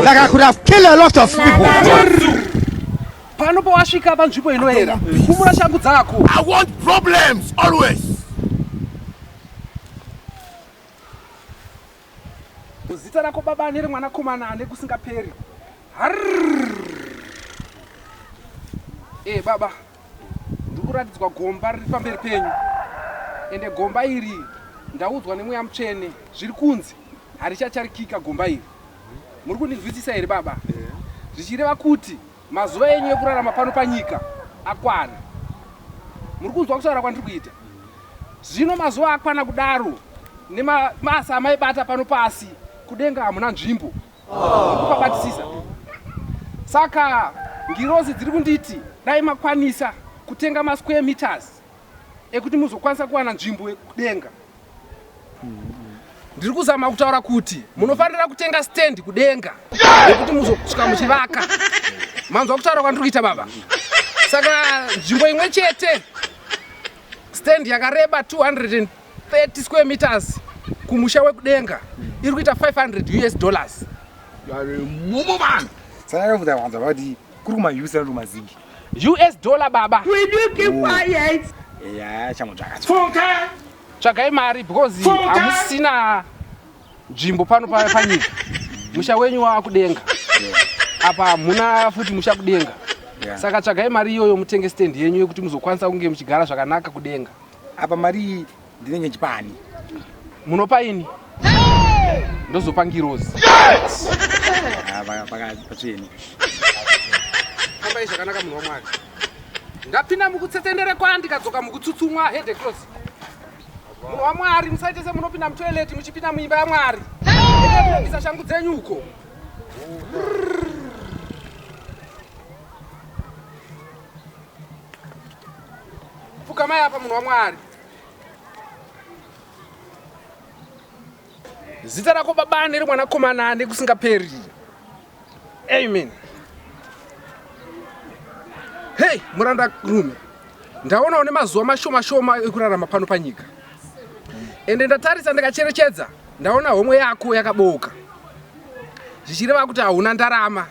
Like I could have killed a lot of people. Pano pawasvika panzvimbo inoera. Kumura shangu dzako. I want problems always. Muzita rako baba ane remwanakomana ane kusingaperi. Eh baba, ndiri kuratidzwa gomba riri pamberi penyu, ende gomba iri ndaudzwa nemweya mutsvene zviri kunzi harichacharikika gomba iri. Muri kundinzwisisa here baba? Zvichireva kuti Mazuva enyu ekurarama pano panyika akwana. Muri kunzwa kutaura kwandiri kuita? Zvino mazuva akwana kudaro nemabasa amaibata pano pasi kudenga hamuna nzvimbo. Kupabatisisa. Saka ngirozi dziri kunditi dai makwanisa kutenga masquare meters ekuti muzokwanisa kuwana nzvimbo yekudenga ndiri kuzama kutaura kuti munofanira kutenga stand kudenga yekuti muzosvika muchivaka manzwa kutaura kwandiri kuita baba saka nzvimbo imwe chete stand yakareba 230 square meters kumusha wekudenga iri kuita 500 us dollars saka vanhu vanzwa vati kuri kuma us kana kuma zingi us dollar baba will you keep oh. quiet yeah changu chakatsoka tsvagai mari because hamusina nzvimbo pano panyika musha wenyu wakudenga apa hamuna futi musha kudenga saka tsvagai mari iyoyo mutenge stand yenyu yekuti muzokwanisa kunge muchigara zvakanaka kudenga apa mari ndinenge ndichipa ani munopa ini ndozopa ngirozi pacheni fambai zvakanaka munhu wamwari ndapinda mukutsetendere kwa ndikadzoka mukutsutsumwa hede close munhu wamwari musaite semunopinda mutoileti muchipinda muimba yamwari ndisa shangu dzenyu uko pfukamai apa munhu wamwari zita rako baba neri mwanakomana nekusingaperi amen hei muranda rume ndaona une mazuva mashoma shoma ekurarama pano panyika ende ndatarisa ndikacherechedza ndaona homwe yako yakabooka zvichireva kuti hauna ndarama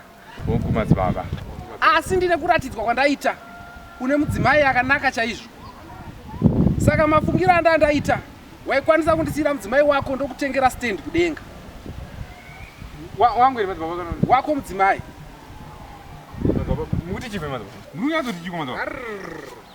Hongu madzibaba. Asi ndine kuratidzwa kwandaita une mudzimai akanaka chaizvo. Saka mafungira anda ndaita waikwanisa kundisiyira mudzimai wako ndokutengera stand kudenga. Wa, wangu here madzibaba kana wako mudzimai? Madzibaba mukuti chivhe madzibaba. Ndikunyatso tichiko madzibaba.